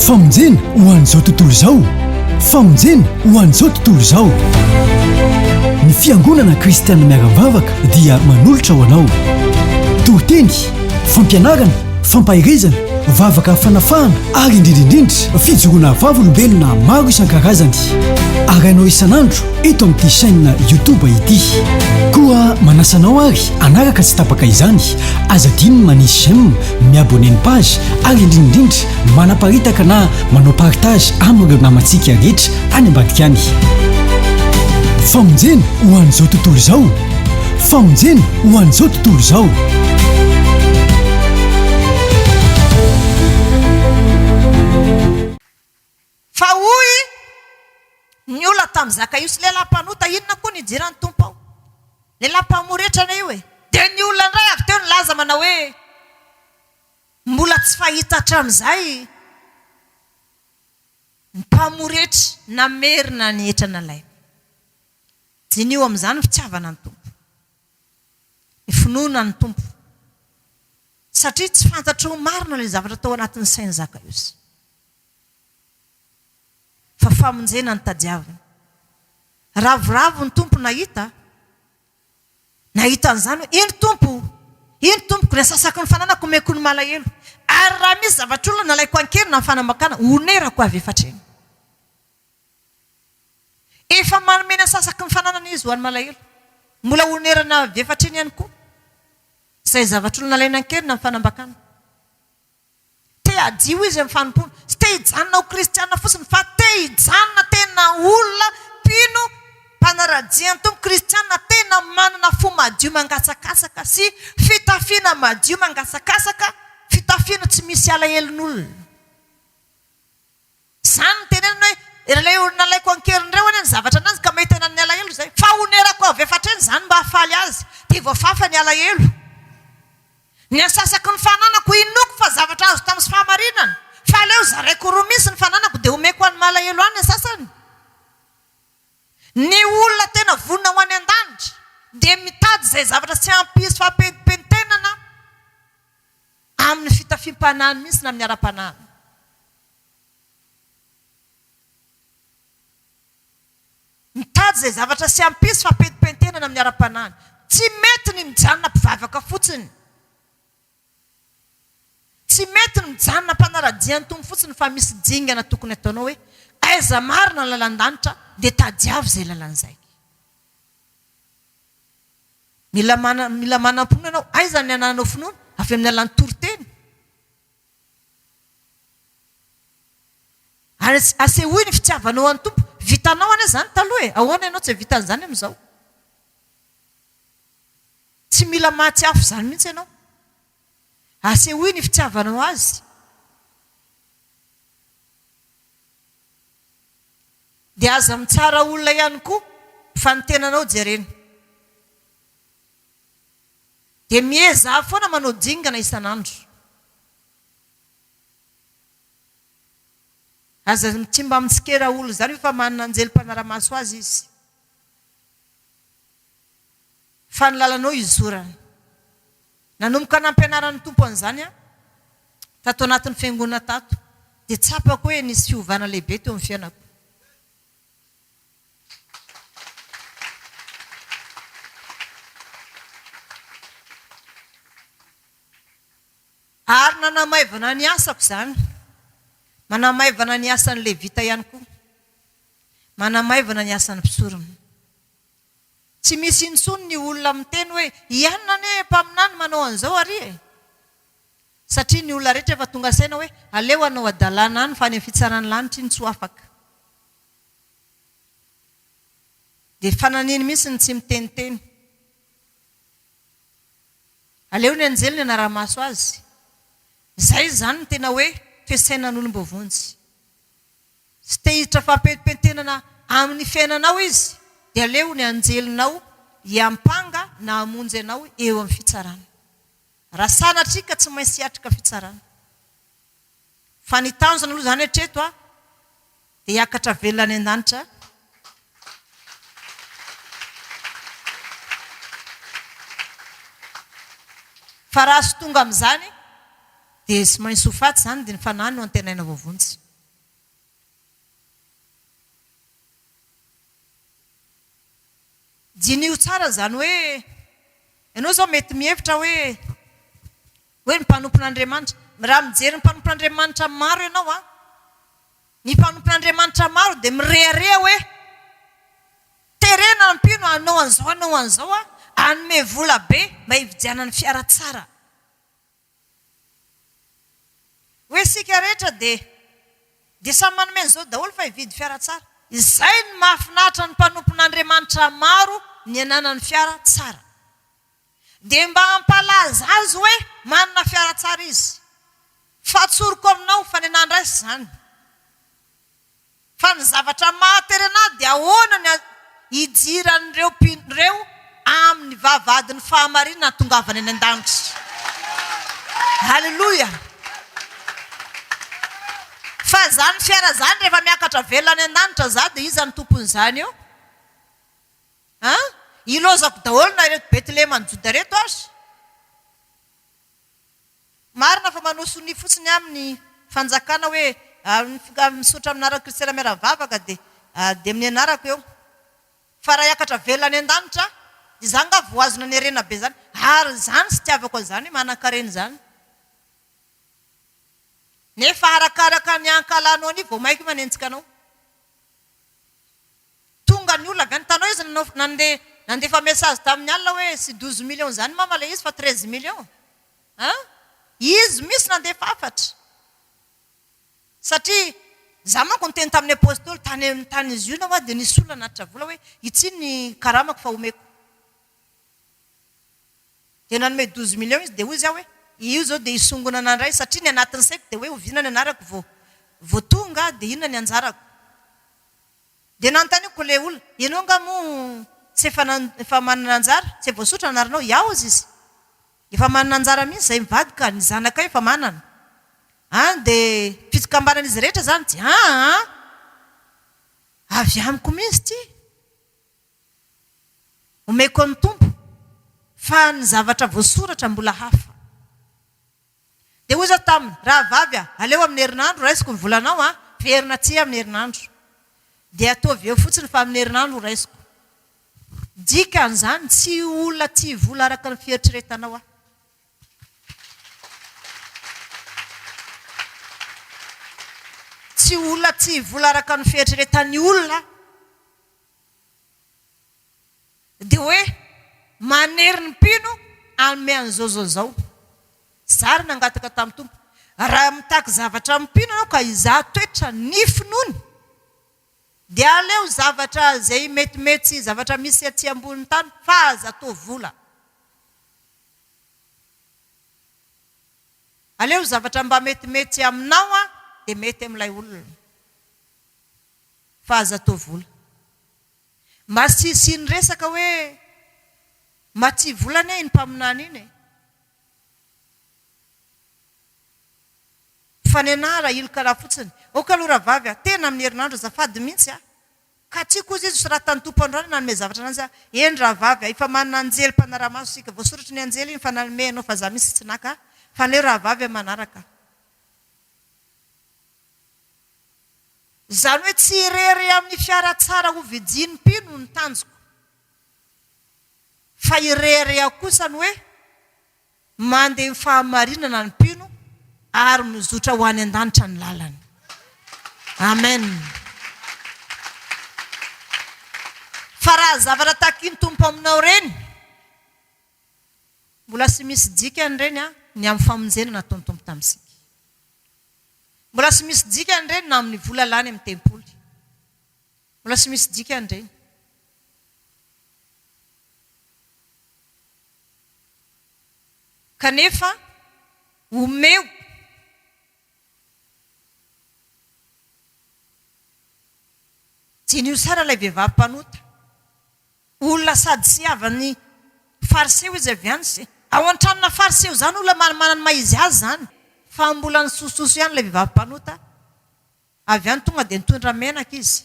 Famonjena ho an'izao tontolo izao Famonjena ho an'izao tontolo izao Ny fiangonana kristianina miara-mivavaka dia manolotra ho anao toriteny, fampianarana, fampaherezana, vavaka fanafahana ary indrindra indrindra fijoroana vavolombelona maro isan-karazany arahinao isan'andro eto amin'ity chaîne YouTube ity. Koa manasa anao ary hanaraka tsy tapaka izany, aza adino ny manisy j'aime mi-abonner ny page ary indrindraindrindra manaparitaka na manao partage amin'ireo namantsika rehetra any ambadika any. Famonjena ho an'izao tontolo izao! Famonjena ho an'izao tontolo izao! Fa hoy ny olona tamin'i Zakaiosy, Ilay lehilahy mpanota inona koa no hidiran'ny Tompo ao? Lehilahy mpamory hetrana io e! Dia ny olona indray avy teo nilaza manao hoe, Mbola tsy fahita hatramin'izay ny mpamory hetra namerina ny hetra nalainy. Diniho amin'izany ny fitiavana ny Tompo, ny finoana ny Tompo, satria tsy fantatry ho marina ilay zavatra tao anatin'ny sain'i Zakaiosy. Fa famonjena no tadiaviny. Ravoravo ny Tompo nahita, nahita an'izany hoe, Eny Tompo o! Eny Tompoko, ny asasako, ny fananako omeko ny malahelo. Ary raha misy zavatr'olona nalaiko an-keriny amin'ny fanambakana, honerako avy efa hatrany. Efa manome ny asasako, ny fananana Izy ho an'ny malahelo. Mbola honerana avy efa hatrany ihany koa izay zavatr'olona nalaina an-keriny amin'ny fanambakana. Te hadio izy amin'ny fanompoana. Tsy te hijanona ho kristiana fotsiny fa te hijanona tena olona mpino mpanaradia ny Tompo, kristiana tena manana fo madio mangatsakatsaka sy fitafiana madio mangatsakatsaka, fitafiana tsy misy alahelon'olona. Izany no teneniny hoe, Iralay olona alaiko an-keriny ireo anie ny zavatra ananjy ka mety hanan'ny alahelo izay. Fa honerako avy efa hatrany izany mba hahafaly azy, dia voafafa ny alahelo. Ny antsasako ny fananako inoako fa zavatra azo tamin'ny fahamarinana, fa aleo zaraiko roa mihitsy ny fananako dia omeko ho an'ny malahelo ahy ny antsasany. Ny olona tena vonona ho any an-danitra dia mitady izay zavatra tsy hampisy fampentimpentenana amin'ny fitafiam-panahiny mihitsy na amin'ny ara-panahiny. Mitady izay zavatra sy hampisy fampentimpentenana amin'ny ara-panahy. Tsy mety ny mijanona mpivavaka fotsiny. Tsy mety ny mijanona mpanara-dia ny Tompo fotsiny fa misy dingana tokony ataonao hoe, aiza marina ny lalan-danitra dia tadiavo izay lalana izay. Mila mila manam-pinoana ianao. Aiza ny anananao finoana? Avy amin'ny alalan'ny toriteny? Ary asehoy ny fitiavanao ho an'ny Tompo. Vitanao anie izany taloha e! Ahoana ianao tsy hahavita an'izany amin'izao? Tsy mila mahatsiaro izany mihitsy ianao. Asehoy ny fitiavanao Azy. Dia aza mitsara olona ihany koa fa ny tenanao jerena. Dia miezaha aho foana manao dingana isan'andro. Aza tsy mba mitsikera olona izany io fa manana anjely mpanara-maso azy izy. Fa ny lalanao hizorany. Nanomboka nampianaran'ny Tompo an'izany aho, tato anatin'ny fiangonana tato, dia tsapako hoe nisy fiovana lehibe teo amin'ny fiainako. Ary nanamaivana ny asako izany. Manamaivana ny asan'ny Levita ihany koa. Manamaivana ny asan'ny mpisorona. Tsy misy intsony ny olona miteny hoe, ianona anie mpaminany manao an'izao ary e. Satria ny olona rehetra efa tonga saina hoe, aleo hanao hadalana any fa any amin'ny fitsaràn'ny lanitra iny tsy ho afaka. Dia fananiny mihitsy ny tsy miteniteny. Aleo ny anjely ny hanara-maso azy. Izay izany no tena hoe fisainan'olom-boavonjy. Tsy te hiditra fampentimpentenana amin'ny fiainanao izy dia aleo ny anjelinao hiampanga na hamonjy anao eo amin'ny fitsarana. Raha sanatria ka tsy maintsy hiatrika fitsarana. Fa ny tanjona aloha izany hatreto an. Dia hiakatra velona any an-danitra aho. Fa raha tsy tonga amin'izany dia tsy maintsy ho faty izany dia ny fanahy no antenaina voavonjy. Diniho tsara izany hoe, ianao izao mety mihevitra hoe, hoe ny mpanompon'Andriamanitra. Raha mijery ny mpanompon'Andriamanitra maro ianao an, Ny mpanompon'Andriamanitra maro dia mirehareha hoe, Terena mpino hanao an'izao hanao an'izao aho, hanome vola be mba hividianany fiara tsara. Hoe isika rehetra dia dia samy manome an'izao daholo fa hividy fiara tsara. Izay no mahafinaritra ny mpanompon'Andriamanitra maro ny hananany fiara tsara. Dia mba hampalaza azy hoe manana fiara tsara izy. Fa atsoriko aminao fa ny anà indray tsy izany. Fa ny zavatra mahatery anà dia ahoana ny hidiran'ireo mpino ireo amin'ny vavahadin'ny fahamarinana hahatongavany any an-danitra. Aleloia! Fa izany fiara izany rehefa miakatra velona any an-danitra izaho dia iza no tompon'izany eo? A! Ilaozako daholo na ireto Betlehem any Joda ireto aza. Marina fa manao sonia fotsiny aminy ny fanjakana hoe misaotra amin'ny anaran'i Kristy Raimiaravavaka dia dia amin'ny anarako eo. Fa raha hiakatra velona any an-danitra aho, dia izany angaha vao azonao ny harena be izany. Ary izany no fitiavako an'izany hoe manankarena izany. Nefa arakaraka ny ankalanao anio vao mainka manenjika anao. Tonga ny olona avy any tanoh izy no nandeha nandefa message tamin'ny alina hoe tsy douze millions izany mama ilay izy fa treize millions an! Izy mihintsy nandefa hafatra satria za manko niteny tamin'ny apostoly tany amin'ny tany izy io nahoa dia nisy olona nanatitra vola hoe ity ny karamako fa omeko dia nanome douze millions izy dia hoy za hoe io izao dia hisongonana indray satria ny anatin'ny saiko dia hoe oviana ny anarako vao vao tonga dia inona ny anjarako? Dia nanontaniako ilay olona, ianao angaha moa tsy efa efa manana anjara? Tsy voasotra anaranao? Yaozy izy, efa manana anjara mihitsy izahay mivady ka, ny zanakay efa manana. An, dia fikambanan'izy rehetra izany ity? Aa! Avy amiko mihitsy ity. Omeko an'ny Tompo fa ny zavatra voasoratra mbola hafa. Dia hoy izaho taminy, Rahavavy a, aleo amin'ny herinandro raisiko ny volanao an, heverina tsia amin'ny herinandro. Dia ataovy eo fotsiny fa amin'ny herinandro ho raisiko. Dikan'izany, tsy ho olona tia vola araka ny fieritreretanao aho. Tsy ho olona tia vola araka ny fieritreretan'ny olona aho. Dia hoe manery ny mpino hanome an'izao izao izao. Zary nangataka tamin'ny Tompo. Raha mitaky zavatra amin'ny mpino ianao ka hizaha toetra ny finoany, dia aleo zavatra izay metimety sy zavatra misy aty ambonin'ny tany fa aza atao vola. Aleo zavatra mba metimety aminao dia mety amin'ilay olona fa aza atao vola. Mba tsy hisian'ny resaka hoe matsy vola anie iny mpaminany iny e! Fa nenah raha iloka raha fotsiny. Ok aloha rahavavy a! Tena amin'ny herinandro azafady mihitsy a! Ka tsy koa izy raha tany tompo androany nanome zavatra anazy a! Eny rahavavy a! Efa manana anjely mpanara-maso isika. Voasoratry ny anjely iny fa nanome anao fa za mihitsy tsy naka a! Fa aleo rahavavy a! Manaraka. Izany hoe tsy irery amin'ny fiara tsara hovidian'ny mpino ny tanjoko, fa irery aho kosa ny hoe mandeha amin'ny fahamarinana ny mpino ary mizotra ho any an-danitra ny lalany. Amen. Fa raha zavatra takin'ny Tompo aminao ireny, Mbola sy misy dikany ireny an, ny amin'ny famonjena nataon'ny Tompo tamintsika. Mbola sy misy dikany ireny na amin'ny vola lany amin'ny tempoly. Mbola sy misy dikany ireny. Kanefa omeo Diniho tsara ilay vehivavy mpanota. Olona sady sy havan'ny Fariseo izy avy any sy. Ao an-tranona Fariseo izany olona manimanina ny maha izy azy izany, fa mbola nisosososo ihany ilay vehivavy mpanota avy any tonga dia nitondra menaka izy,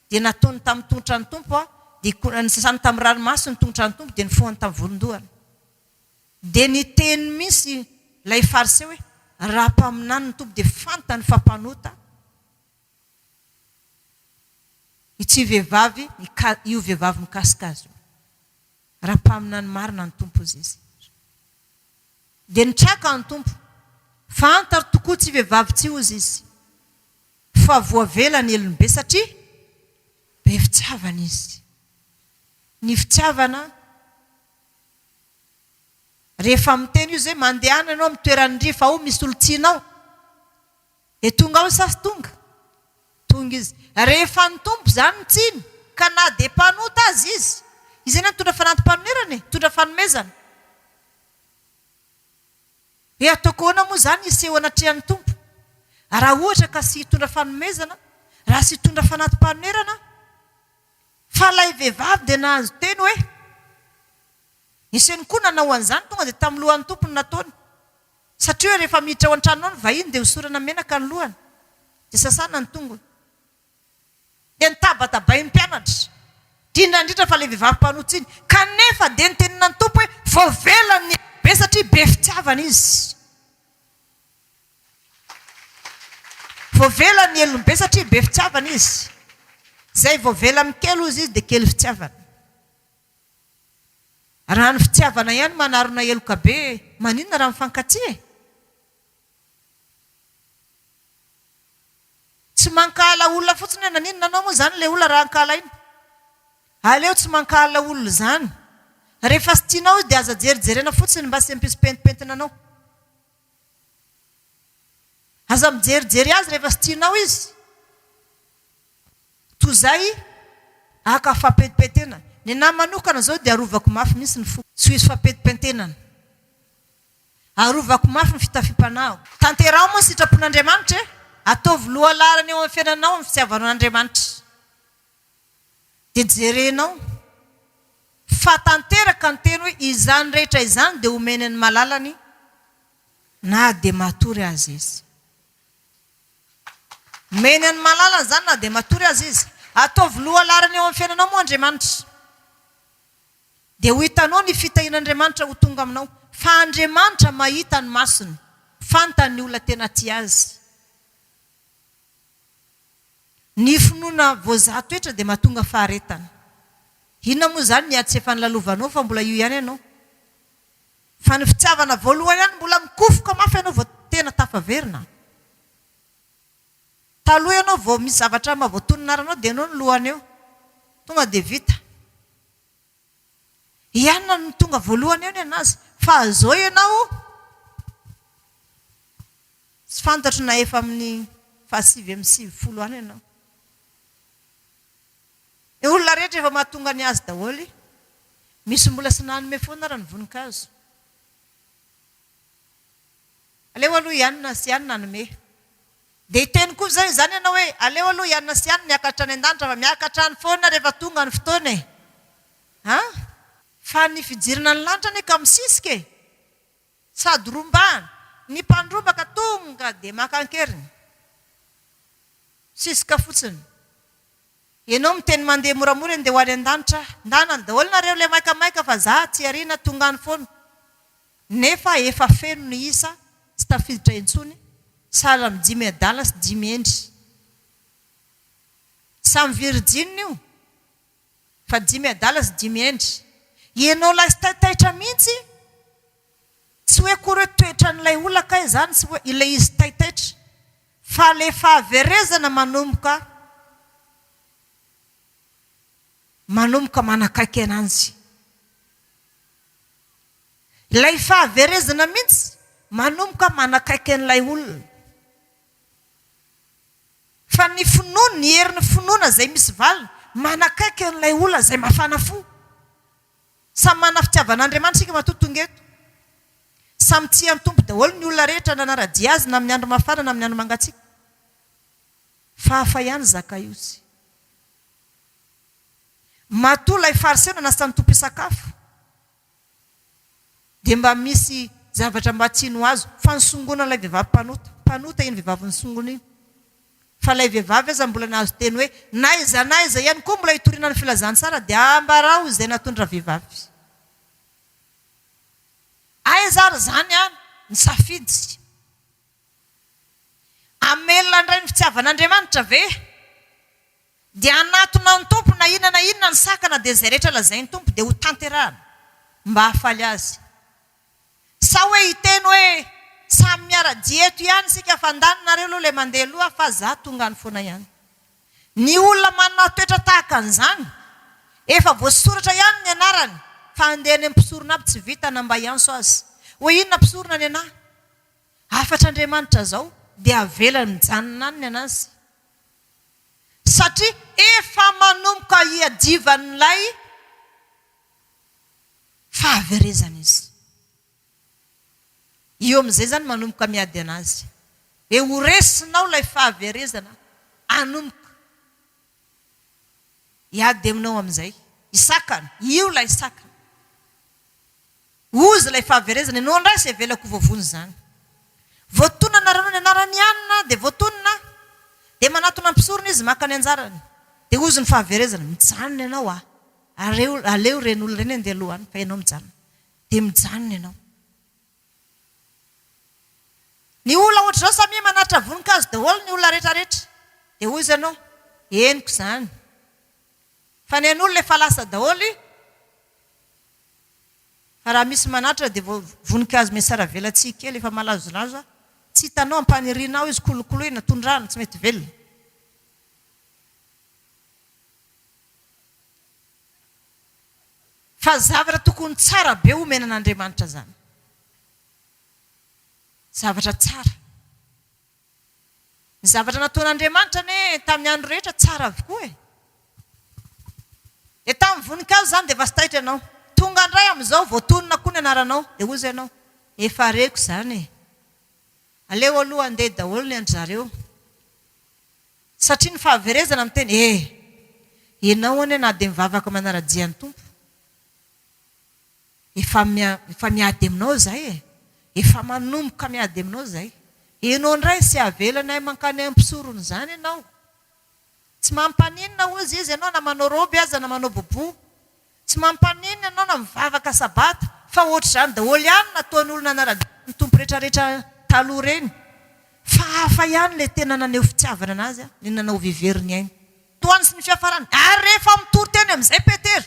dia nataony tamin'ny tongotran'ny Tompo aho, dia ko, nisasany tamin'ny ranomaso ny tongotran'ny Tompo dia nifohany tamin'ny volon-dohany. Dia niteny mihintsy ilay Fariseo hoe, Raha mpaminany ny Tompo dia fantany fa mpanota aho. Ity vehivavy, io vehivavy mikasika azy io. Raha mpaminany marina ny Tompo hozy izy. Dia nitraka ny Tompo. Fantaro tokoa ity vehivavy ity hozy izy. Fa voavela ny helony be satria be fitiavana izy. Ny fitiavana, rehefa miteny izy hoe mandehana ianao amin'ny toeran'ny rifa ao misy olon-tianao. Dia tonga ao sasy tonga. Tonga izy. Rehefa ny Tompo izany no tsiny, ka na dia mpanota aza izy. Izy anie nitondra fanati-panonerana e, nitondra fanomezana. Dia ataoko ahoana moa izany hiseho anatrehan'ny Tompo? Raha ohatra ka tsy hitondra fanomezana, raha tsy hitondra fanati-panonerana aho? Fa ilay vehivavy dia nahazo teny hoe, Eseny koa nanao an'izany, tonga dia tamin'ny lohan'ny Tompo no nataony. Satria rehefa miditra ao an-tranonao ny vahiny dia hosorana menaka ny lohany, dia sasana ny tongony. Dia notabatabain'ny mpianatra, indrindra indrindra fa ilay vehivavy mpanoa-tsy iny. Kanefa dia notenenina ny Tompo hoe, Voavelany ny ankibebe satria be fitiavana izy. Voavelany ny helony be satria be fitiavana izy. Izay voavelany kely hozy izy dia kely fitiavana. Raha ny fitiavana ihany manarona heloka be maninona raha mifankatia e? Tsy mankahala olona fotsiny hoe naninona anao moa izany ilay olona raha ankahalaina? Aleo tsy mankahala olona izany. Rehefa tsy tianao izy dia aza jerijerena fotsiny mba tsy hampisy pentimpentina anao. Aza mijerijery azy rehefa tsy tianao izy. Toy izay haka fampentimpentenana. Ny anahy manokana izao dia arovako mafy mihitsy ny foko. Tsy ho hisy fampentimpentenana. Arovako mafy ny fitafiam-panahiko. Tanteraho moa ny sitrapon'Andriamanitra e! Ataovy lohalaharana eo amin'ny fiainanao ny fitiavanao an'Andriamanitra. Dia jerenao fa tanteraka ny teny hoe izany rehetra izany dia homeny an'i Malala ny na dia matory aza izy. Homeny an'i Malala izany na dia matory aza izy. Ataovy lohalaharana eo amin'ny fiainanao moa Andriamanitra. Dia ho hitanao ny fitahian'Andriamanitra ho tonga aminao. Fa Andriamanitra mahita ny masony. Fantany ny olona tena tia Azy. Ny finoana voazaha toetra dia mahatonga faharetana. Inona moa izany ny ady sy efa nilalovanao fa mbola io ihany ianao? Fa ny fitiavana voalohany ihany mbola mikofoka mafy ianao vao tena tafaverina. Taloha ianao vao misy zavatra maha voatoninara anao dia eo ny lohany eo. Tonga dia vita. Ianona no tonga voalohany eo ny an'azy? Fa zao ianao tsy fantatro na efa amin'ny fahasivy amby sivifolo any ianao. Ny olona rehetra efa mahatonga ny azy daholo. Misy mbola sy nanome foana ary ny voninkazo. Aleo aloha ianona sy ianona hanome. Dia hiteny koa izay izany ianao hoe, aleo aloha hianona sy hiany miakatra any an-danitra fa miakatra any foana rehefa tonga ny fotoana e! An! Fa ny fijerena ny lanitra anie ka misisika e! Sady rombahana. Ny mpandrombaka tonga dia maka an-keriny. Misisika fotsiny. Ianao miteny mandeha moramora eny dia ho any an-danitra aho. Ndanany daholo nareo ilay maikamaika fa za tsy ariana tonga any foana. Nefa efa feno ny isa tsy tafiditra intsony sahala amin'ny dimy adala sy dimy hendry. Samy virijina io fa dimy adala sy dimy hendry. Ianao lastay taitra mihitsy, tsy hoe akory hoe toetran'ilay olona kay izany sy hoe ilay izy tay taitra fa ilay fahaverezana manomboka manomboka manakaiky ananjy. Ilay fahaverezana mihitsy manomboka manakaiky an'ilay olona. Fa ny finoana, ny herin'ny finoana izay misy valiny, manakaiky an'ilay olona izay mafana fo. Samy manana fitiavan'Andriamanitra isika matoa tonga eto. Samy tia ny Tompo daholo ny olona rehetra nanara-dia Azy na amin'ny andro mafana na amin'ny andro mangatsiaka. Fa hafa ihany i Zakaiosy. Matoa ilay Fariseo nanasa ny Tompo hisakafo. Dia mba misy zavatra mba tsy no azo. Fa nisongona ilay vehivavy mpanota. Mpanota iny vehivavy nisongona iny. Fa ilay vehivavy aza mbola nahazo teny hoe, n'aiza n'aiza ihany koa mbola hitoriana ny filazantsara dia ambarao izay nataony rahavehivavy. Aiza ary izany an! Nisafidy. Hamelona indray ny fitiavan'Andriamanitra ve? Dia hanatona ny Tompo na inona na inona ny sakana dia izay rehetra lazain'ny Tompo dia ho tanterahana mba hahafaly Azy. Sa hoe hiteny hoe samy miara-dia eto ihany isika fa ndany nareo aloha ilay mandeha aloha fa za tonga any foana ihany. Ny olona manana toetra tahaka an'izany, efa voasoratra ihany ny anarany fa handeha any amin'ny mpisorona aby tsy vita na mba hiantso azy hoe inona mpisorona nenah? Hafatr' Andriamanitra izao dia avelany mijanona any ny an' Azy satria efa manomboka hiadivan' ilay fahaverezana izy. Io amin' izay izany manomboka miady an' Azy. Dia ho resinao ilay fahaverezana hanomboka Hiady aminao amin'izay. Hisakana. Io ilay sakana. Ozy ilay fahaverezana. Ianao indray sy avelako ho voavono izany. Voatonona naranao ny anarany anona dia voatonona. Dia manatona mpisorona izy maka ny anjarany. Dia ozy ny fahaverezana. Mijanona ianao a! Aleo ireny olona ireny handeha aloha any fa ianao mijanona. Dia mijanona ianao. Ny olona ohatr'izao samia manatitra voninkazo daholo ny olona rehetra rehetra. Dia hoy izy anao, henoko izany. Fa ny an'olona efa lasa daholo. Fa raha misy manatitra dia vao voninkazo miasaravelatsihy kely efa malazolazo. Tsy hitanao ampaniriana ao izy, kolokoloina, tondrahana, tsy mety velona. Fa zavatra tokony tsara be omena an'Andriamanitra zany. Zavatra tsara. Ny zavatra nataon'Andriamanitra anie tamin'ny andro rehetra tsara avokoa e. Dia tamin'ny voninkazo zany dia efa tsy taitra ianao. Tonga indray amin'izao vao tonona koa ny anaranao dia hoy izay ianao, efa reko izany e. Aleo aloha handeha daholo ny an-dry zareo. Satria ny fahaverezana miteny eh! Enao anie na dia mivavaka manara-jia ny Tompo efa efa miady aminao zay eh! Efa manomboka miady aminao zay. Enao ndray sy avelanay mankany ampisorony izany enao. Tsy mampaninona ozy izy enao na manao robe aza na manao boubou. Tsy mampaneno ianao na mivavaka sabata fa ohatr'izany daholo ihany nataon'olona naradraon'ny Tompo retraretra taloha ireny. Fa hafa ihany ilay tena naneho fitiavana anazy, ny nanao vehivery ny ainy. Tohany sy ny fiafarany. Ary rehefa mitory teny amin'izay Petera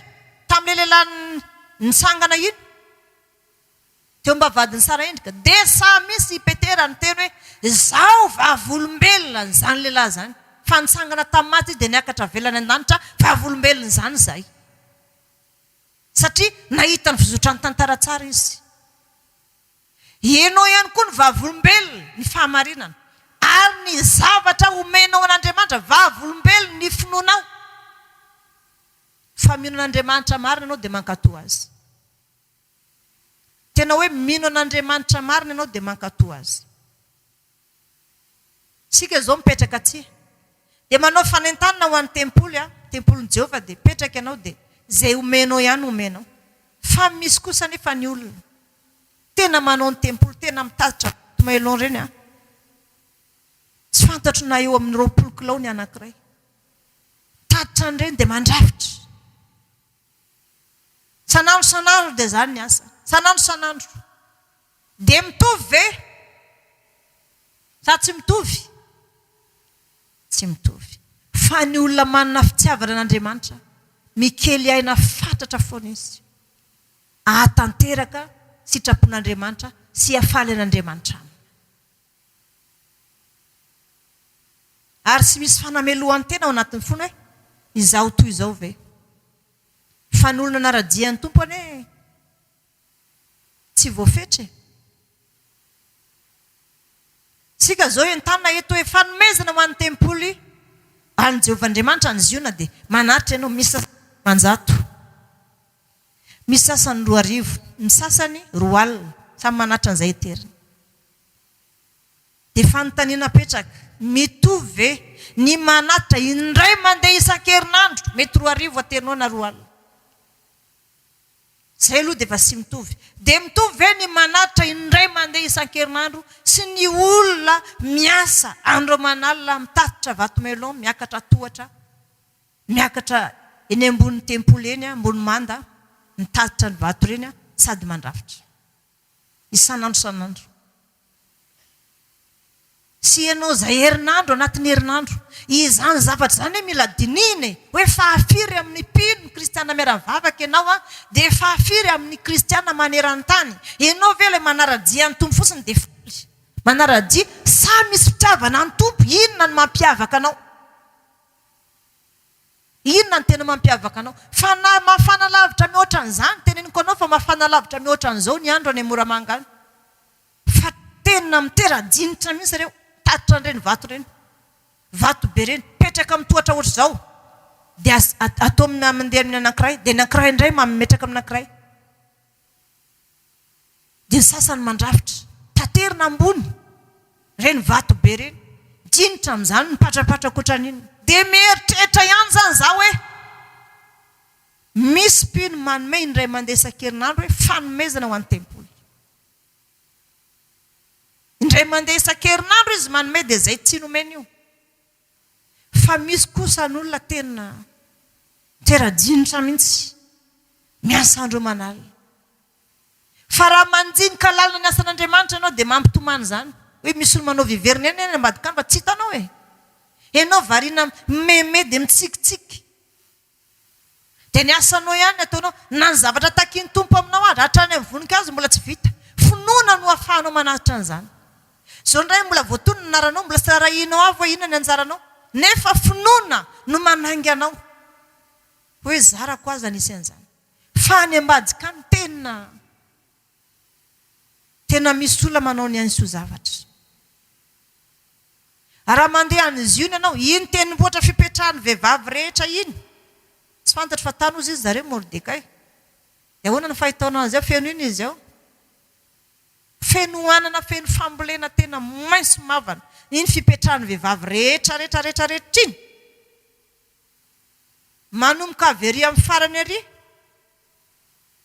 tamin'ilay lehilahy nitsangana iny. Teo mba vadin'i Sara endrika. Dia sahy misy i Petera niteny hoe, Izaho vavolombelona an'izany lehilahy izany. Fa nitsangana tamin'ny maty izy dia niakatra havelany an-danitra, vavolombelona izany izahay. Satria nahita ny fizotran'ny tantara tsara izy. I Enao ihany koa no vavolombelona ny fahamarinana. Ary ny zavatra omenao an'Andriamanitra, vavolombelona ny finoanao. Fa mino an'Andriamanitra marina ianao dia mankatò Azy. Tena hoe mino an'Andriamanitra marina ianao dia mankatò Azy. Isika izao mipetraka aty, dia manao fanentanana ho an'ny tempoly an, tempolin'i Jehovah dia mipetraka ianao dia izay omenao ihany omenao. Fa misy kosa anefa ny olona tena manao ny tempoly, tena mitatitra boaty maillon ireny an, tsy fantatro na eo amin'ny roapolo kilao ny anankiray, mitatitra an'ireny dia mandrafitra. Sanandro sanandro dia izany ny asa. Sanandro sanandro. Dia mitovy ve? Sa tsy mitovy? Tsy mitovy. Fa ny olona manana fitiavana an'Andriamanitra, mikely aina fatratra foana izy, hahatanteraka sitrapon'Andriamanitra sy hahafaly an'Andriamanitra aminy. Ary tsy misy fanamelohan-tena ao anatin'ny fony hoe, Izaho toy izao ve? Fa ny olona nara-dia ny Tompo anie tsy voafetra e! Isika izao entanina eto hoe, Fanomezana ho an'ny tempoly an'i Jehovah Andriamanitra any Ziona dia manaritra ianao. Misy sasany dimanjato, misy sasany roa arivo, ny sasany roa alina. Samy manaritra an'izay heteriny. Dia fanontaniana apetraka, mitovy ve ny manatitra indray mandeha isan-kerinandro, mety roa arivo aterinaony na roa alina, izay aloha dia efa tsy mitovy, dia mitovy ve ny manatitra indray mandeha isan-kerinandro sy ny olona miasa an'ireo manalina mitatitra vato-melon miakatra tohatra, miakatra eny ambonin'ny tempoly eny, ambony manda, mitatitra ny vato ireny sady mandrafitra. isan'andro isan'andro. Tsy ianao izay herinandro anatin'ny herinandro. Izany zavatra izany hoe mila dinihina e! Hoe fahafiry amin'ny mpino ny kristiana miara-mivavaka ianao dia fahafiry amin'ny kristiana maneran-tany. Ianao ve ilay manara-dia ny Tompo fotsiny dia faly? Manara-dia sa misy fitiavana ny Tompo? Inona no mampiavaka anao? Inona no tena mampiavaka anao? Fa na mafana lavitra mihoatra an'izany, teneniko anao fa mafana lavitra mihoatra an'izao ny andro any Moramanga any. Fa tena mitera-dinitra mihitsy ireo tatitra an'ireny vato ireny. Vato be ireny, mipetraka amin'ny tohatra ohatr'izao, dia atao mandeha amin'ny anankiray, dia ny anankiray indray mametraka amin'ny anankiray. Dia ny sasany mandrafitra. Taterina ambony. Ireny vato be ireny. Dinitra amin'izany, mipatrapatra ankoatran'inona. Dia mieritreritra ihany izany izaho hoe misy mpino manome indray mandeha isan-kerinandro hoe fanomezana ho an'ny tempoly. Indray mandeha isan-kerinandro izy manome dia izay tsy nomeny io. fa misy kosa ny olona tena tera-jinitra mihitsy miasa andro aman'alina. Fa raha mandinika lalina ny asan'Andriamanitra ianao dia mampitomany izany. Hoe misy olona manao viverina eny any ambadik'amba tsy hitanao e! Ianao variana mimeme dia mitsikitsiky. Dia ny asanao ihany ny ataonao. Na ny zavatra takin'ny Tompo aminao aza, hatrany amin'ny voninkazo, mbola tsy vita. Finoana no ahafahanao manatitra an'izany. Izao indray mbola voatono ny anaranao, mbola tsy arahinao avy hoe inona ny anjaranao. Nefa finoana no manainga anao hoe zarako aza nisy an'izany. Fa any ambadika any tena. Tena misy olona manao ny ainy soa zavatra. Raha mandeha any Ziona ianao, iny tendrombohitra fipetrahan'ny vehivavy rehetra iny, tsy fantatro fa tany hozy izy zareo Mordekay. Dia ahoana ny fahitaonao azy ao? Feno inona izy ao? Feno anana, feno fambolena tena maitso mavana. Iny fipetrahan'ny vehivavy rehetra rehetra rehetra rehetra iny. Manomboka avy ery amin'ny farany ery.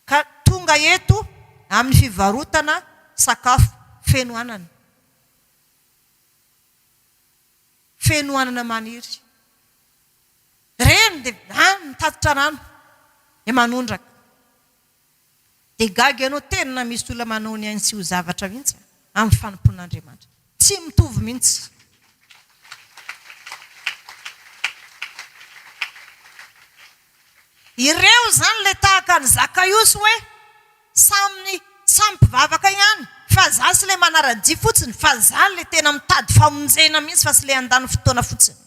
ka tonga eto amin'ny fivarotana sakafo feno anana, feno anana maniry. Ireny dia any mitatitra rano dia manondraka. Dia gaga ianao, tena misy olona manao ny ainy tsy ho zavatra mihitsy amin'ny fanompoan'Andriamanitra. Tsy mitovy mihitsy. Ireo izany ilay tahaka an'i Zakaiosy hoe samy samy mpivavaka ihany fa za sy ilay manara-dia fotsiny fa za ilay tena mitady famonjena mihitsy fa sy ilay handany fotoana fotsiny.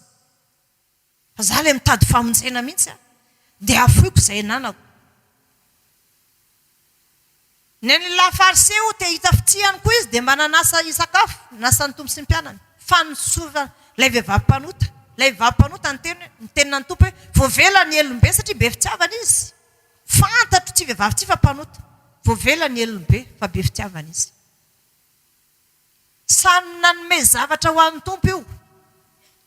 Fa za le mitady famonjena mintsy a! Dia afoiko zay ananako. Ny ny la fariseo te hita fitia ihany koa izy dia mba nanasa hisakafo, nasan'ny Tompo sy ny mpianany. Fanosorana ilay vehivavy mpanota. Ilay vehivavy mpanota niteny hoe, niteny na ny Tompo hoe, voavela ny helony be satria be fitiavana izy. Fantatro ity vehivavy ity fa mpanota. Voavela ny helony be fa be fitiavana izy. Samy nanome zavatra ho an'ny Tompo io.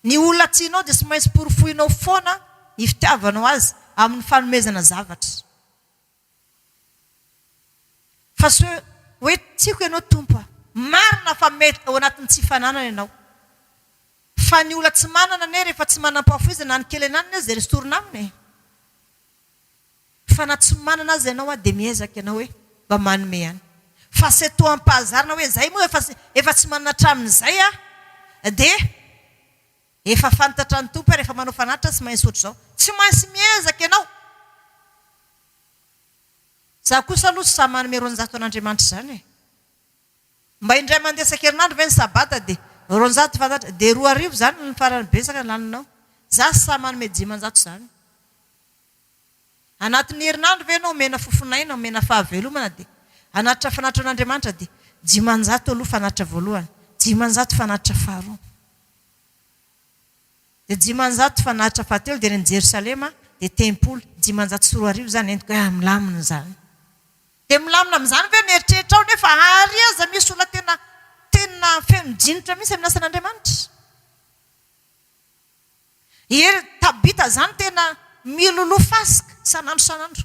Ny olona tianao dia tsy maintsy porofoinao foana ny fitiavanao azy amin'ny fanomezana zavatra. Fa tsy hoe, hoe tiako ianao Tompo a! Marina fa mety ao anatin'ny tsy fananana ianao. Fa ny olona tsy manana anie rehefa tsy manam-pahafoizana na ny kely ananany aza dia esorina aminy e! Fa na tsy manana aza ianao an dia miezaka ianao hoe mba manome ihany. Fa c'est toi am pahazarina hoe zay moa efa efa tsy manana hatramin'izay aho dia efa fantatra ny Tompo hoe rehefa manao fanatitra tsy maintsy ohatr'izao. Tsy maintsy miezaka ianao. Za kosa aloha tsy sahy manome roanjato an'Andriamanitra izany e. Mba indray mandeha isan-kerinandro ve ny sabata dia roanjato fantatra dia roa arivo izany ny farany betsaka laninao. Za tsy sahy manome dimanjato izany. Anatin'ny herinandro ve ianao omena fofon'aina, omena fahavelomana dia hanatitra fanatitra an'Andriamanitra dia dimanjato aloha fanatitra voalohany, dimanjato fanatitra faharoa, dia dimanjato fanatitra fahatelo dia ny Jerosalema dia tempoly, dimanjato sy roa arivo izany henoko hoe ah milamina izany. Dia milamina amin'izany ve ny eritreritrao nefa àry aza misy olona tena tena feno dinitra mihitsy amin'ny asan'Andriamanitra? Ie ry Tabita zany tena miloloha fasika san'andro san'andro.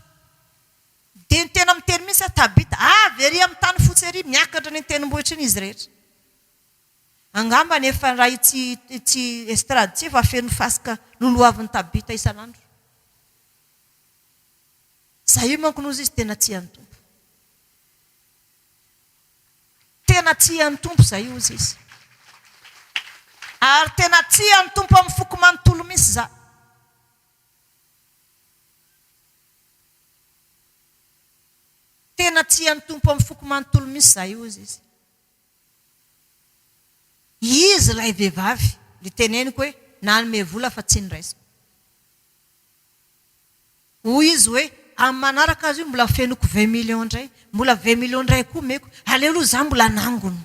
Dia ny tena miteny mihitsy aho Tabita avy ery amin'ny tany fotsy ery miakatra any an-tendrombohitra iny izy rehetra. Angambany efa raha itsy itsy estrade itsy efa feno fasika lolohavin'i Tabita isan'andro. Zay io manko no izy tena tia ny Tompo. Tena tia ny Tompo izay hozy izy. Ary tena tia ny Tompo amin'ny foko manontolo misy izaho. Tena tia ny Tompo amin'ny foko manontolo misy izaho hozy izy. Izy ilay vehivavy niteneniko hoe nanome vola fa tsy noraisiko. Hoy izy hoe, amin'ny manaraka azy io mbola fenoko vingt millions indray, mbola vingt millions indray koa omeko. Aleo aloha izaho mbola hanangona.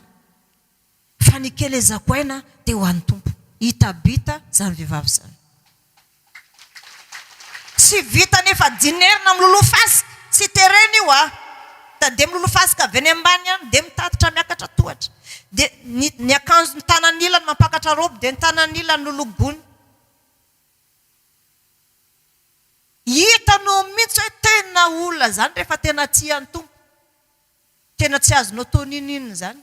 Fa ny kely ezahako aina dia ho an'ny Tompo. Hita bita izany vehivavy izany. Tsy vitany efa dinerina miloloha fasika. Tsy terena io an! Dia miloloha fasika avy any ambany any, dia mitatitra miakatra tohatra. Dia ny ny akanjo ny tanan'ilany mampakatra robe dia ny tanan'ilany lolobony. Hitanao mihitsy hoe tena olona izany rehefa tena tia ny Tompo. Tena tsy azonao atao n'inon'inona izany.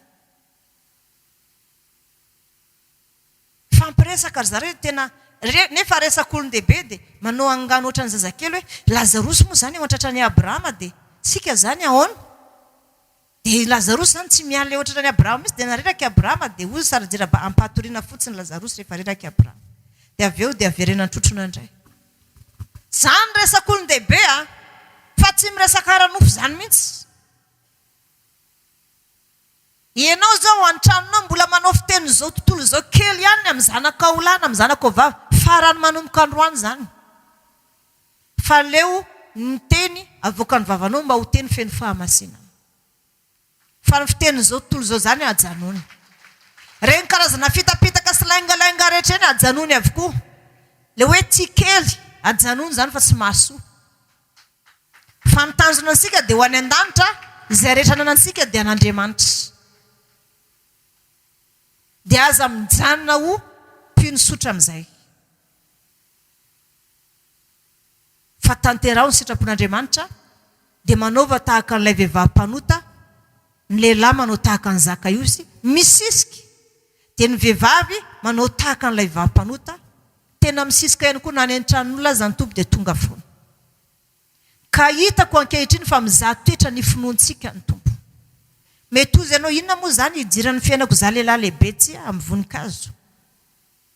Mifampiresaka ry zareo dia tena, nefa resak'olon-dehibe dia manao angano ohatran'ny zazakely hoe Lazarosy moa izany eo an-tratran'i Abrahama dia isika izany ahoana? Dia i Lazarosy izany tsy miala eo an-tratran'i Abrahama mihitsy, dia nareraky i Abrahama, dia hoy i Sara, Jiraba, ampahatoriana fotsiny Lazarosy rehefa reraky i Abrahama. Dia avy eo dia verena an-trotrona indray. Izany resaka olon-dehibe an! Fa tsy miresaka ara-nofo izany mihitsy. Ianao izao ao an-tranonao mbola manao fiteny izao tontolo izao kely ihany ny amin'ny zanakao lahy na amin'ny zanakao vavy, farany manomboka androany izany. Fa aleo ny teny avoakan'ny vavanao mba ho teny feno fahamasinana. Fa ny fitenin'izao tontolo izao izany ajanony. Ireny karazana fitapitaka sy laingalainga rehetra ireny ajanony avokoa. Ilay hoe tia kely, ajanony izany fa tsy mahasoa. Fa ny tanjona antsika dia ho any an-danitra, izay rehetra ananantsika dia an'Andriamanitra. Dia aza mijanona ho mpino tsotra amin'izay. fa tanteraho ny sitrapon'Andriamanitra, dia manaova tahaka an'ilay vehivavy mpanota, ny lehilahy manao tahaka an'i Zakaiosy, misisika, dia ny vehivavy manao tahaka an'ilay vehivavy mpanota, tena misisika ihany koa, na any an-tranon'olona aza ny Tompo dia tonga foana. Ka hitako ankehitriny fa mizaha toetra ny finoantsika ny Tompo. Mety hozy ianao, inona moa izany hidiran'ny fiainako izaho lehilahy lehibe tsia amin'ny voninkazo?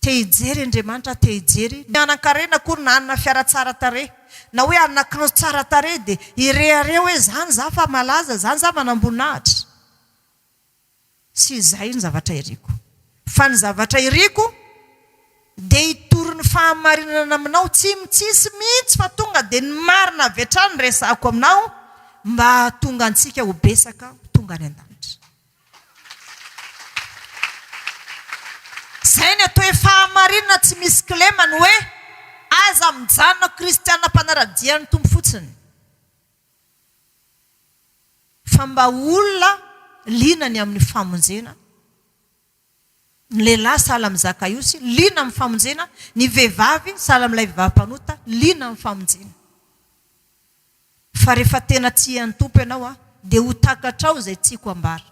Te hijery Andriamanitra aho, te hijery. Ny hanan-karena akory na hanana fiara tsara tarehy, na hoe hanana kilaoty tsara tarehy dia hirehareha hoe izany izaho fa malaza, izany izaho manamboninahitra. Tsy izay ny zavatra iriko. Fa ny zavatra iriko dia hitory ny fahamarinana aminao tsy mitsitsy mihitsy fa tonga dia ny marina avy hatrany no resahako aminao mba hahatonga antsika ho betsaka ho tonga any an-danitra. Izay ny atao hoe fahamarinana tsy misy kilema ny hoe aza mijanona ho kristiana mpanara-dia ny Tompo fotsiny fa mba ho olona liana ny amin'ny famonjena. Ny lehilahy sahala amin'ny zaka-iosy, liana amin'ny famonjena, ny vehivavy sahala amin'ilay vehivavy mpanota, liana amin'ny famonjena. Fa rehefa tena tia ny Tompo ianao, dia ho takatrao izay tiako hambara.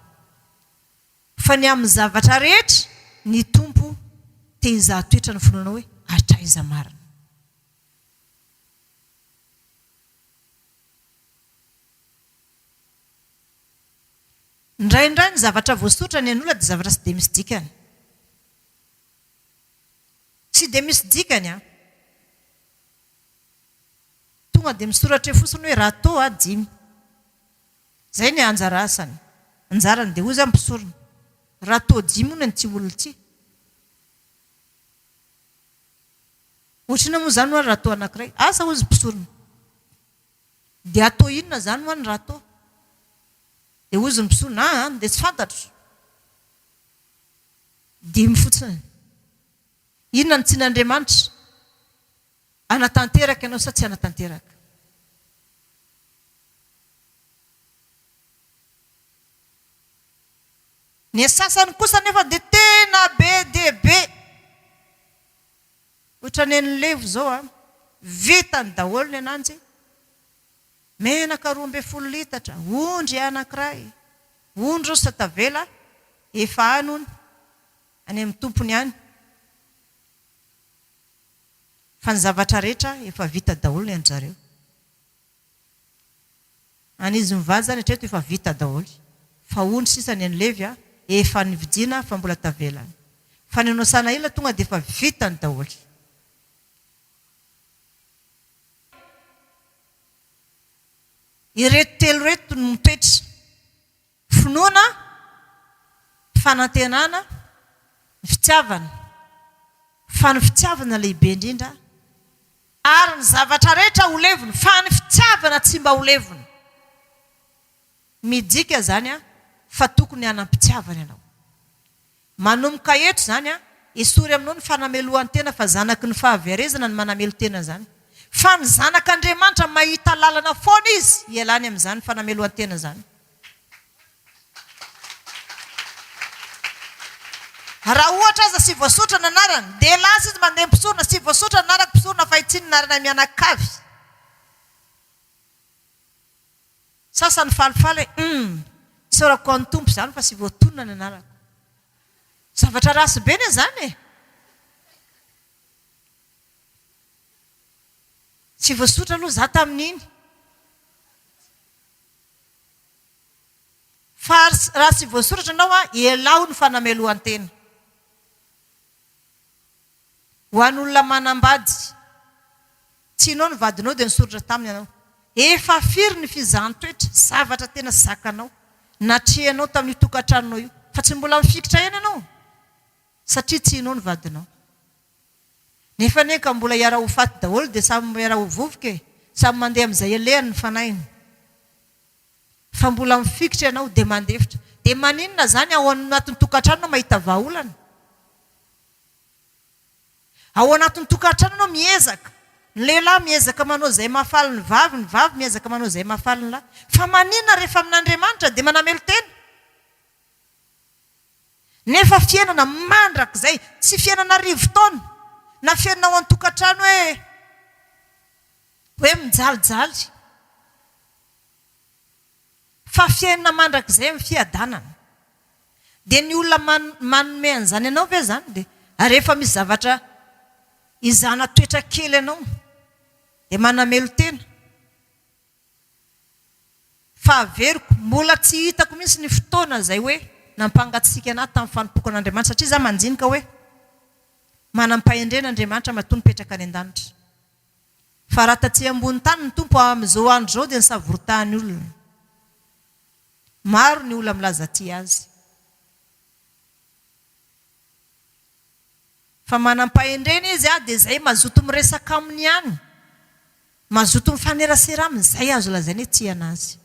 Fa ny amin'ny zavatra rehetra, ny Tompo te hizaha toetra ny finoanao hoe hatraiza marina. Indraindray ny zavatra voasotra ny an'olona dia zavatra tsy dia misy dikany. Tsy dia misy dikany an! Tonga dia misoratra eo fotsiny hoe raha toa dimy. Izay ny anjara asany. Anjarany dia hoy izany mpisorona, raha toa dimy hono an'ity olona ity. Ohatrinona moa izany hoy aho raha toa anankiray? Asa hoy izy mpisorona. Dia atao inona izany moa ny râteau? Dia hozy ny mpisolo, an an, dia tsy fantatro. Dimy fotsiny. Inona no tsin'Andriamanitra? Hanatanteraka ianao sa tsy hanatanteraka? Ny sasany kosa anefa dia tena be dia be. Otrany an'i levo zao an! Vitany daholo ny ananjy, menaka roa ambin'ny folo litatra, ondry anankiray, ondry osa tavela efa any hono, any amin'ny tompony any, fa ny zavatra rehetra efa vita daholo ny anjareo. Any izy mivady zany hatreto efa vita daholo fa ondry sisa ny an'i levy efa nividiana fa mbola tavela ny fa ny anao sanahila tonga dia efa vitany daholo. Ireto telo ireto no mipetra Finoana, ny fanantenana, ny fitiavana, fa ny fitiavana lehibe indrindra, ary ny zavatra rehetra ho levona, fa ny fitiavana tsy mba ho levona. Midika izany fa tokony hanam-pitiavana ianao. Manomboka eto izany an, esory aminao ny fanamelohan-tena fa zanaky ny fahaverezana ny manamelo-tena izany. Fa ny zanak' Andriamanitra mahita lalana foana izy hialany amin' izany fanamelohan-tena izany. Raha ohatra aza sy voasoritra ny anarany, dia lasa izy mandeha mpisorona sy voasoritra ny anarak' mpisorona fa hitsininarana mianakavy. Sasany falifaly e! Humm! Isaorako an'ny Tompo izany fa tsy voatonona ny anarako. Zavatra ratsy be anie izany e! Tsy voasotra aloha izaho tamin'iny. Fa raha tsy voasoratra ianao an, ialaho ny fanamelohan-tena. Ho an'olona manambady. Tianao ny vadinao dia nisoratra taminy ianao. Efa firy ny fizahan-toetra, zavatra tena zakanao, natrehanao tamin'io tokantranonao io, fa tsy mbola mifikitra eny ianao satria tianao ny vadinao. Nefa anie ka mbola hiara-ho faty daholo dia samy miara-ho vovoka e! Samy mandeha amin'izay alehany ny fanahiny. Fa mbola mifikitra ianao dia mandefitra. Dia maninona izany ao anatin'ny tokantranonao mahita vahaolana? Ao anatin'ny tokantrano ianao miezaka, ny lehilahy miezaka manao izay mahafaly ny vavy, ny vavy miezaka manao izay mahafaly ny lahy. Fa maninona rehefa amin'Andriamanitra dia manamelo-tena? Nefa fiainana mandrakizay, tsy fiainana arivo taona, na fiainana ao an-tokantrano hoe, hoe mijalijaly. Fa fiainana mandrakizay amin'ny fiadanana. Dia ny olona manome an'izany anao ve izany? Dia ary efa misy zavatra izana toetra kely anao dia manamelo-tena. Fa averiko, mbola tsy hitako mihitsy ny fotoana izay hoe nampangatsiaka an'ahy tamin'ny fanompoako an'Andriamanitra satria izaho mandinika hoe manam-pahendrena Andriamanitra matoa mipetraka any an-danitra. Fa raha taty ambony tany ny Tompo amin'izao andro izao dia nisavoritany olona. Maro ny olona milaza tia Azy. Fa manam-pahendrena Izy dia izay mazoto miresaka Aminy ihany, mazoto mifanerasera Aminy, izay azo lazaina hoe tia an'Azy.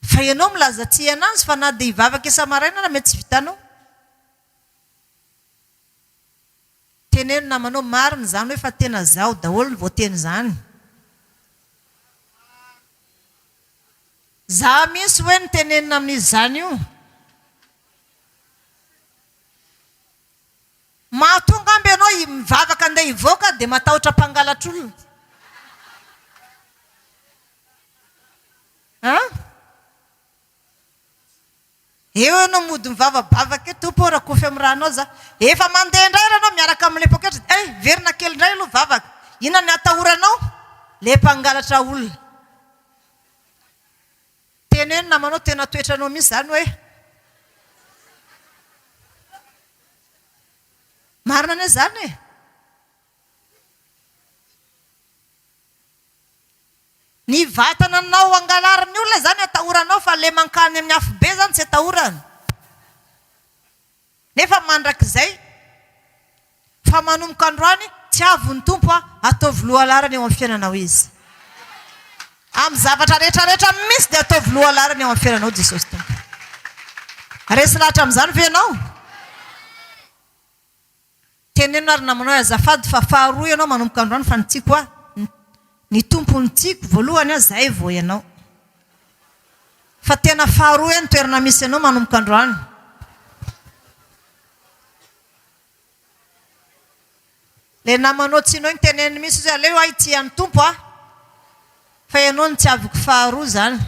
Fa ianao milaza tia an'Azy fa na dia hivavaka isa-maraina ary mety tsy vitanao. Teneno namanao marina izany hoe fa tena zaho daholo ny voateny izany. Za mihintsy hoe no tenenina amin'izy izany io. Mahatonga amby ianao mivavaka andeha hivoaka dia matahotra mpangalatr'olona. An. Eo ianao mody mivavabavaka eo, Tompo ô rakofy amin'ny rànao aza. Efa mandeha indray ary ianao miaraka amin'ilay poketra, dia hay, verina kely indray aloha vavaka. Inona ny atahoranao? Ilay mpangalatra olona. Teneno namanao, tena toetranao mihitsy izany hoe. Marina anie izany e! Ny vatana nao angalarin'ny olona izany atahoranao fa le mankany amin'ny afobe izany tsy atahorana nefa mandrakizay fa manomboka androany tsy avon'ny Tompo a ataovy lohalarana eo amin'ny fiainanao izy amin'ny zavatra rehetra rehetra misy dia ataovy lohalarana eo amin'ny fiainanao Jesosy Tompo resy lahatra amin'izany ve ianao Teneno ary namanao hoe azafady fa faharoa ianao manomboka androany fa ny tiako ahy ny Tompo no tiako voalohany aho zay vao ianao fa tena faharoa ahy ny toerana misy anao manomboka androany le namanao tsy nao ny teneniny misy izy aleo ahy tia ny Tompo aho fa ianao no tiaviko faharoa zany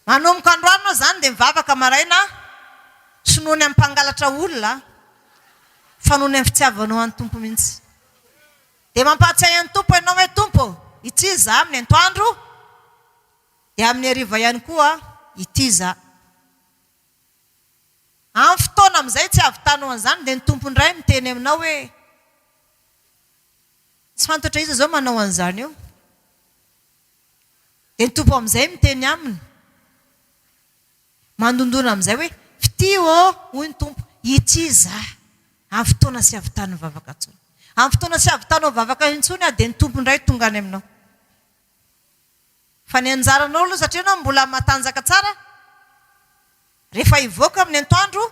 Manomboka androany moa izany dia mivavaka maraina aho, tsy noho ny amin'ny mpangalatra olona fa noho ny amin'ny fitiavanao an'i Tompo mihitsy. Dia mampahatsiahy an'i Tompo ianao hoe Tompo ô, ity izaho amin'ny antoandro dia amin'ny hariva ihany koa ity izaho. Amin'ny fotoana amin'izay tsy hahavitanao an'izany dia ny Tompo indray miteny aminao hoe, tsy fantatro hoe iza izao manao an'izany eo. Dia ny Tompo amin'izay miteny aminy, mandondona amin'izay hoe, Fitia ô, hoy ny Tompo, ity Izaho. Amin'ny fotoana tsy havitan'ny vavaka intsony. Amin'ny fotoana tsy havitanao vavaka intsony aho, dia ny Tompo indray tonga any aminao. Fa ny anjaranao aloha, satria ianao mbola matanjaka tsara, rehefa hivoaka amin'ny antoandro,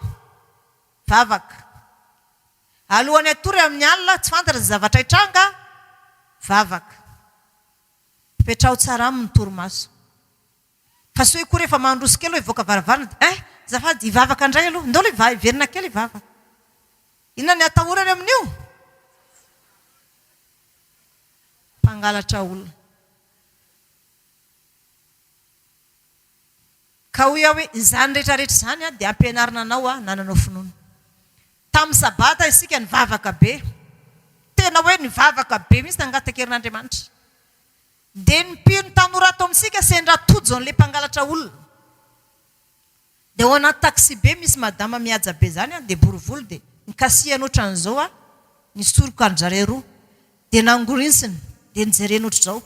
vavaka. Alohan'ny hatory amin'ny alina, tsy fantatra izay zavatra hitranga, vavaka. Toetrao tsara aminy torimaso. Fa sao koa rehefa mandroso kely hoe hivoaka varavarana dia eh! Azafady hivavaka indray aloha. Indao aloha hiverina kely hivavaka. Inona ny atahorany amin'io? Mpangalatra olona. Ka hoy aho hoe, Izany rehetrarehetra izany dia hampianarina anao hananao finoana. Tamin'ny Sabata isika nivavaka be. Tena hoe nivavaka be mihitsy nangatakerin'Andriamanitra. Dia ny mpino tanora ato amintsika sendra tojo an'ilay mpangalatra olona. Dia ao anaty taxi-be misy madama mihaja be izany, dia bory volo, dia nikasihany ohatran'izao aho, ny soroka-dry zareo roa. Dia nangorinsiny, dia nijereny ohatr'izao.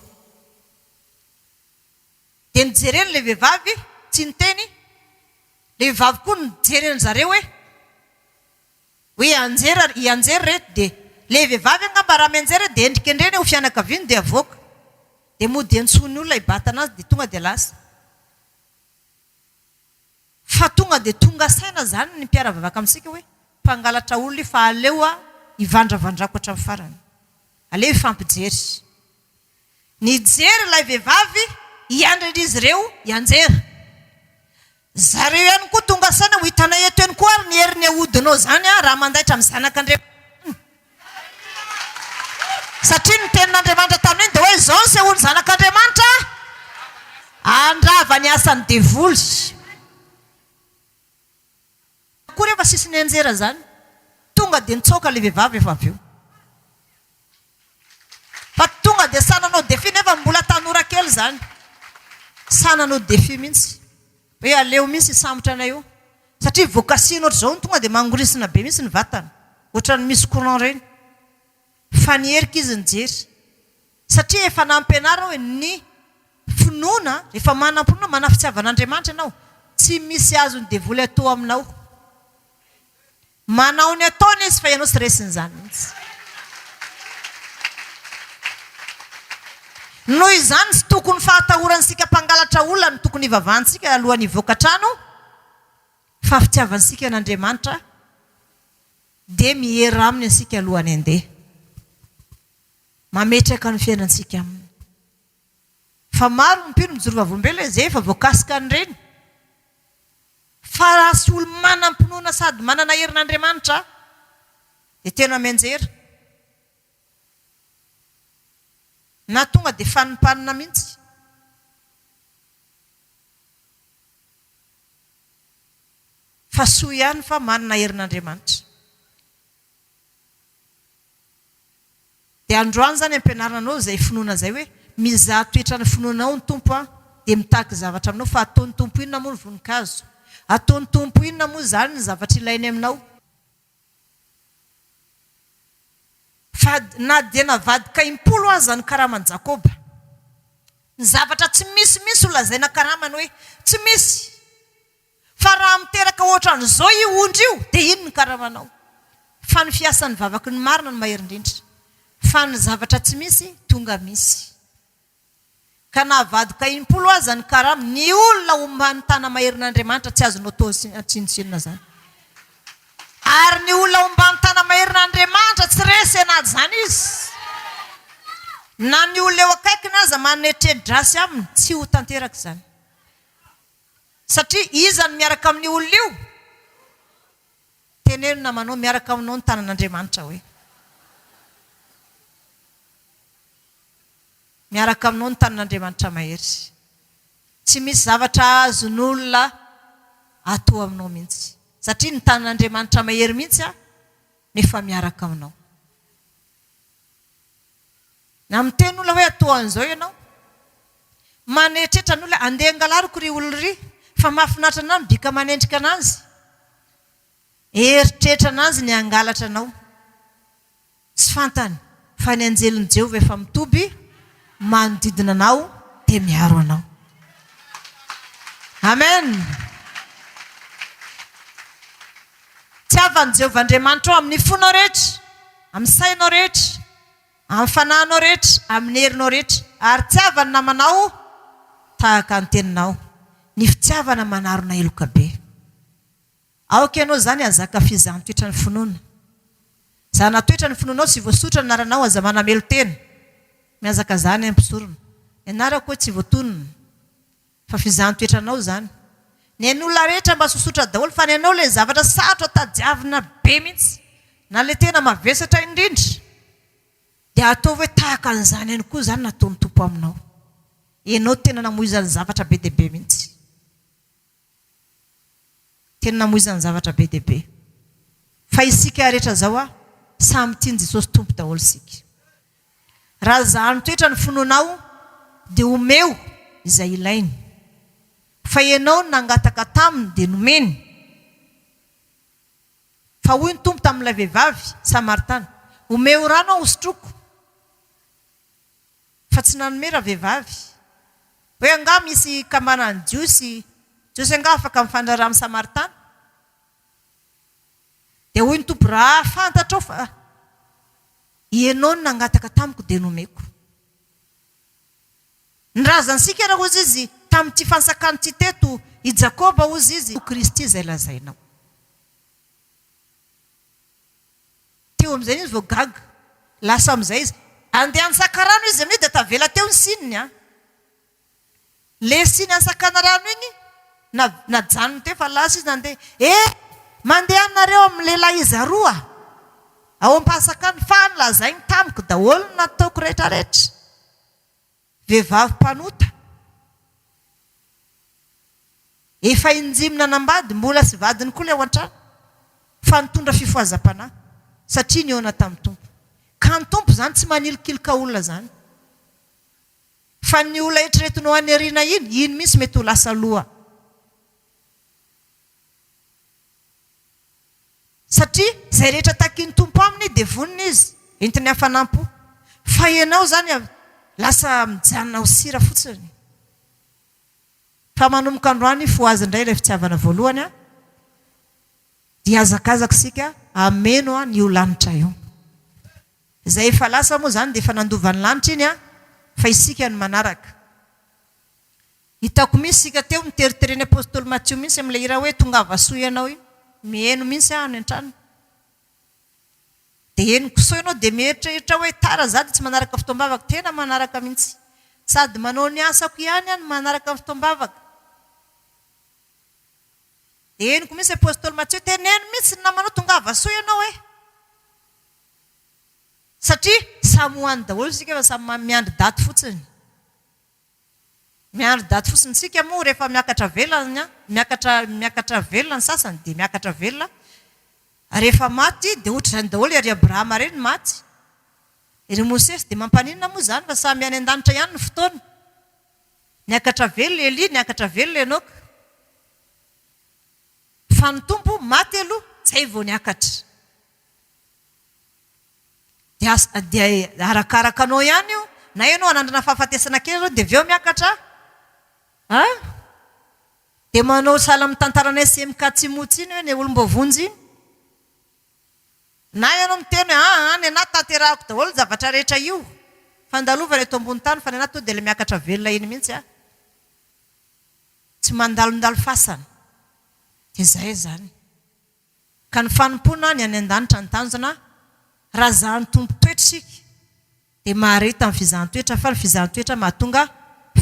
Dia nijereny ilay vehivavy tsy niteny, ilay vehivavy koa nijery an-dry zareo hoe hoe hianjera hianjera ireto dia ilay vehivavy angamba raha mianjera dia endrikendreny eo fianakaviany dia avoaka dia mody antsoin'ny olona hibatana azy dia tonga dia lasa fa tonga dia tonga saina izany ny mpiara-vavaka amintsika hoe mpangalatra olona io fa aleo aho hivandravandrako hatramin'ny farany, aleo hifampijery. Nijery ilay vehivavy hiandry an'izy ireo hianjera. Zareo ihany koa tonga saina ho hitanay eto ihany koa ary ny herin'ny ahodinao izany raha mandaitra amin'ny zanak'Andriamanitra izany. Satria ny tenin'Andriamanitra tamin'iny dia hoe izao ny sehoan'ny zanak'Andriamanitra, handrava ny asan'ny devoly. Akory efa sisy nianjera zany, tonga de nitsoaka le vevavy efa avy eo. Fa tonga de sahy nanao défi nefa mbola tanora kely zany. Sahy nanao défi mintsy. Hoe aleo mintsy hisambotra anay eo. Satria vao kasihina ohatr'izao iny tonga de mangorisina be mintsy ny vatana. Ohatran'ny misy courant reny. Fa ny herika izy nijery. Satria efa nampianarao ny finoana, efa manam-pinoana, manafitiavana Andriamanitra ianao, tsy misy azon'ny devoly atao aminao. Manao ny ataony izy fa ianao tsy resin'izany mihitsy. Noho izany tsy tokony fahatahorantsika mpangalatra olona no tokony hivavahantsika alohan'ny hivoaka trano fa fitiavantsika an'Andriamanitra dia miera aminy isika alohan'ny handeha. Mametraka ny fiainantsika aminy. Fa maro ny mpino mijoro vavolombelona izay efa voakasika an'ireny. Fa raha tsy olo-manam-pinoana sady manana herin'Andriamanitra dia tena mianjera. Na tonga dia fanimpanina mihitsy. Fa soa ihany fa manana herin'Andriamanitra. Dia androany izany ampianarina anao izay finoana izay hoe, mizaha toetra ny finoana ao ny Tompo an! dia mitaky zavatra aminao fa ataon'ny Tompo inona moa ny voninkazo? Ataon'ny Tompo inona moa izany ny zavatra ilainy aminao? Fa na dia navadika impolo aza ny karaman'i Jakoba. Ny zavatra tsy misy mihitsy no lazaina karamany hoe tsy misy. Fa raha miteraka ohatran'izao io ondry io dia iny ny karamanao. Fa ny fiasan'ny vavaky ny marina no mahery indrindra. Fa ny zavatra tsy misy tonga misy. Ka na avadika impolo aza ny karama, ny olona ho manontana maherin'Andriamanitra tsy azonao atao tsinontsinona izany. Ary ny olona ho manontana maherin'Andriamanitra tsy resy an'izany izy. Na ny olona eo akaikiny aza manetredrasy aminy tsy ho tanteraka izany. Satria iza no miaraka amin'io olona io? Teneno namanao, miaraka aminao ny tanan'Andriamanitra hoe. Miaraka aminao ny tanan'Andriamanitra mahery. Tsy misy zavatra azon'olona atoa aminao mihitsy. Satria ny tanan'Andriamanitra mahery mihitsy an, no efa miaraka aminao. Na miteny olona hoe atao an'izao ianao. Manetretra ny olona, andeha angalariko ry olona ry, fa mahafinaritra anà ny bika manendrika an'azy. Eritreretra an'azy ny hangalatra anao. Tsy fantany fa ny anjelin'i Jehovah efa mitoby manodidina anao dia miaro anao. Amen! Tiavan'i Jehovah Andriamanitrao amin'ny fonao rehetra. Amin'ny sainao rehetra, amin'ny fanahinao rehetra, amin'ny herinao rehetra, ary tiava ny namanao tahaka ny teninao. Ny fitiavana manarona heloka be. Aoka ianao izany hahazaka fizaham-toetra ny finoana. Zahana toetra ny finoanao, tsy voasotra ny anaranao, aza manamelo tena. Mihazaka zany an, mpisorona. Ny anarako hoy tsy voatonona. Fa f'izany toetranao zany. Ny ain'olona rehetra mba sosotra daholo fa ny anao le zavatra sarotra tadiavina be mihitsy na le tena mavesatra indrindra dia ataovy hoe tahaka an'izany ihany koa zany nataon'ny Tompo aminao. Enao tena namoizany zavatra be dia be mihitsy. Tena namoizany zavatra be dia be. Fa isika rehetra zao a, samy tian'i Jesosy Tompo daholo isika. Raha izaho mitoetra ny finoanao dia omeo izay ilainy. Fa ianao no nangataka taminy dia nomeny. Fa hoy ny Tompo tamin'ilay vehivavy Samaritana, Omeo rano aho hosotroiko. Fa tsy nanome ravehivavy. Hoe angaha misy kambanan'ny Jiosy, Jiosy angaha afaka mifandraraha amin'ny Samaritana? Dia hoy ny Tompo, Raha fantatrao fa Ianao no nangataka tamiko dia nomeko. Ny razantsika ra hozy Izy, tamin'ity fantsakany ity teto, i Jakoba hozy Izy, io Kristy izay lazainao. Teo amin'izay izy vao gaga. Lasa amin'izay izy. Andeha an-tsakarano izy amin'io dia tavela teo ny sininy an! Le siny Ansakanarano iny najanony teo fa lasa izy nandeha. Eh! Mandeha nareo amin'ny lehilahy iza roa ao Ampasakana fa any lazainy tamiko daholo ny nataoko retraretra. Vehivavy mpanota. Efa injimy nanambady, mbola tsy vadiny koa ilay ao an-trano fa nitondra fifohazam-panahy satria nihaona tamin'ny Tompo. Ka ny Tompo izany tsy manilikiloka olona izany. Fa ny olona eritreretiny ho any aoriana iny, iny mihitsy mety ho lasa loha. Satria izay rehetra takin'ny Tompo aminy dia vonona Izy, entiny hafanam-po. Fa ianao izany lasa mijanona ho sira fotsiny. Fa manomboka androany hifohaza indray ilay fitiavana voalohany an! Dia hiazakazaka isika hameno an'io lanitra io. Izay efa lasa moa izany dia efa nandova ny lanitra iny an! Fa isika no manaraka. Hitako mihitsy isika teo miteritery an'i Apostoly Matio mihitsy amin'ilay hira hoe Tongava soa ianao iny. Miheno mihitsy aho any an-trano. Dia henoko soa ianao dia mieritreritra aho hoe tara izaho dia tsy manaraka fotoam-bavaka. Tena manaraka mihitsy. Sady manao ny asako ihany aho no manaraka ny fotoam-bavaka. Dia henoko mihitsy Apostoly Matio, teneno mihitsy ny namanao tongava soa ianao e! Satria samy ho any daholo isika fa samy miandry daty fotsiny. Miandry daty fotsiny. Isika moa rehefa miakatra velona, miakatra miakatra velona ny sasany dia miakatra velona. Rehefa maty dia ohatr'izany daholo ry Abrahama ireny maty, ry Mosesy dia mampaninona moa izany fa samy any an-danitra ihany ny fotoana. Niakatra velona i Elia, niakatra velona i Enoka. Fa ny Tompo maty aloha izay vao niakatra. Dia dia arakaraka anao ihany io, na ianao hanandrana fahafatesana kely izao dia avy eo miakatra a! Dia manao sahala amin'ny tantaranay sy MK Tsimotsy iny hoe ny olom-boavonjy iny. Na ianao miteny hoe aa any anà tanterahako daholo ny zavatra rehetra io, fandalovana eto ambony tany fa ny anà tonga dia ilay miakatra velona iny mihitsy a! Tsy mandalondalo fasana. Dia izay izany. ka ny fanompoana ny any an-danitra no tanjona, raha zahany tompon-toetra isika dia mahareta ny fizahan-toetra fa ny fizahan-toetra mahatonga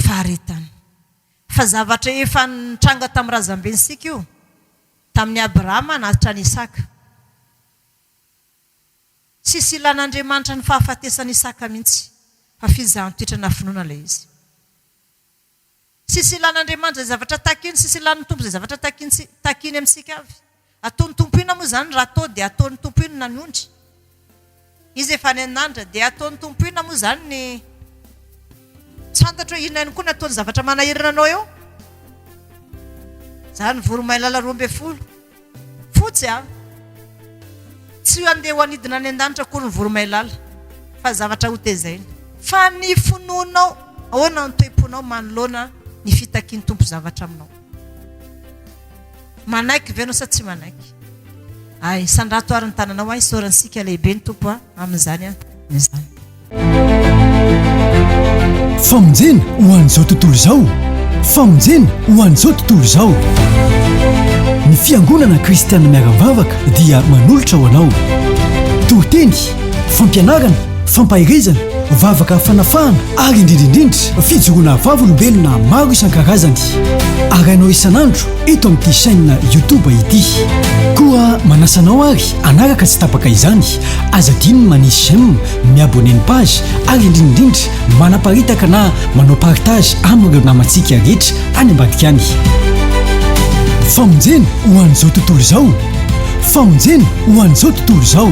faharetana. Fa zavatra efa nitranga tamin'ny razambentsika io, tamin'i Abrahama na hatrany Isaka. Tsisy ilan'Andriamanitra ny fahafatesan'i Isaka mihitsy fa fizahan-toetra na finoana ilay izy. Tsisy ilan'Andriamanitra izay zavatra takiny, tsisy ilan'ny Tompo izay zavatra takiny takiny amintsika avy. Ataon'ny Tompo inona moa izany raha atao dia ataon'ny Tompo inona ny ondry? Izy efa any an-danitra dia ataon'ny Tompo inona moa izany ny Tsy fantatro hoe inona ihany koa no ataon'ny zavatra manahirana anao eo? Izany voromailala roa ambin'ny folo. Fotsy a! Tsy handeha ho anidina any an-danitra akory ny voromailala fa zavatra hotezaina. Fa ny finoanao, ahoana ny toe-ponao manoloana ny fitakian'ny Tompo zavatra aminao? Manaiky ve ianao sa tsy manaiky? Ay, sandrato ary ny tananao a, isaorantsika lehibe ny Tompo a, amin'izany a, izany. Famonjena ho an'izao tontolo izao Famonjena ho an'izao tontolo izao Ny fiangonana kristianina miara-mivavaka dia manolotra ho anao toriteny, fampianarana, fampaherezana, vavaka fanafahana ary indrindra indrindra fijoroana vavolombelona maro isan-karazany arahinao isan'andro eto amin'ity chaîne YouTube ity. Koa manasa anao ary Hanaraka tsy tapaka izany, aza adino ny manisy j'aime, mi-abonner ny page ary indrindraindrindra manaparitaka na manao partage amin'ireo namantsika rehetra any ambadika any. Famonjena ho an'izao tontolo izao! Famonjena ho an'izao tontolo izao!